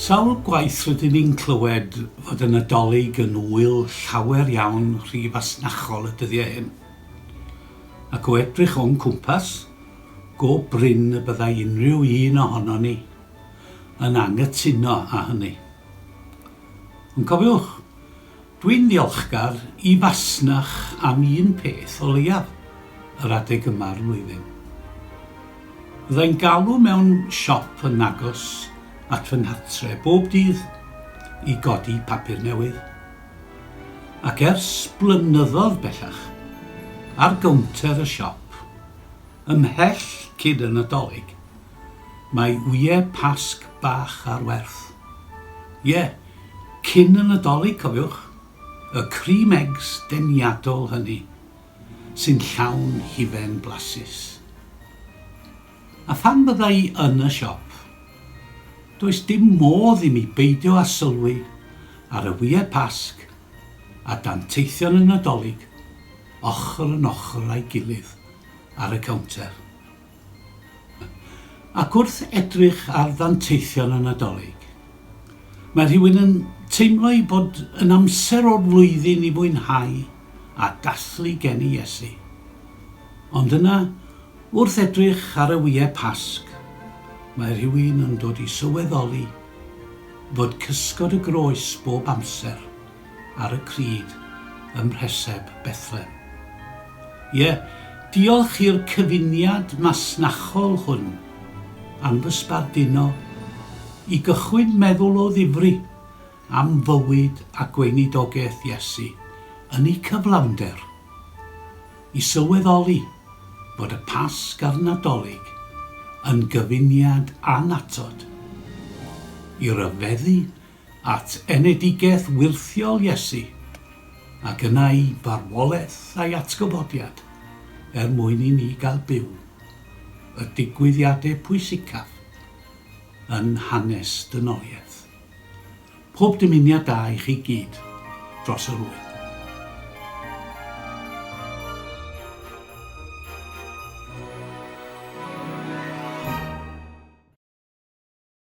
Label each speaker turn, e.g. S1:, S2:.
S1: Sawl gwaith rydyn ni'n clywed fod y Nadolig yn ŵyl llawer iawn rhy fasnachol y dyddiau hyn. Ac o edrych o'n cwmpas, go brin y byddai unrhyw un ohonon ni yn anghytuno â hynny. Ond cofiwch, Dwi'n ddiolchgar i Fasnach am un peth o leiaf, yr adeg yma'r flwyddyn. Fyddai'n galw mewn siop yn agos at fy nghartre bob dydd i godi papur newydd. Ac ers blynyddodd bellach, ar gownter y siop, ymhell cyn y Nadolig, Mae ŵyê Pasg bach ar werth. Ie, cyn y Nadolig, cofiwch, y cream eggs deniadol hynny, sy'n llawn hufen blasus. A phan fydda i yn y siop, does dim modd i mi beidio â sylwi ar y ŵyê Pasg a danteithion y Nadolig ochr yn ochr â'i gilydd ar y cownter. Ac wrth edrych ar ddanteithion y Nadolig, mae rhywun yn teimlo ei bod yn amser o'r flwyddyn i fwynhau a dathlu geni Iesu. Ond yna, wrth edrych ar y wyau Pasg, mae rhywun yn dod i sylweddoli fod cysgod y groes bob amser ar y crid ym Mhreseb Bethlem. Ie, diolch i'r cyfuniad masnachol hwn am fy sbarduno i gychwyn meddwl o ddifri am fywyd a gweinidogaeth Iesu yn eu cyflawnder, i sylweddoli bod y Pasg a'r Nadolig yn gyfuniad annatod i ryfeddu at enedigaeth wyrthiol Iesu, ac yna i farwolaeth a'i atgyfodiad er mwyn i ni gael byw, y digwyddiadau pwysicaf yn hanes dynoliaeth. Pob dymuniad da i chi gyd dros yr ŵyl.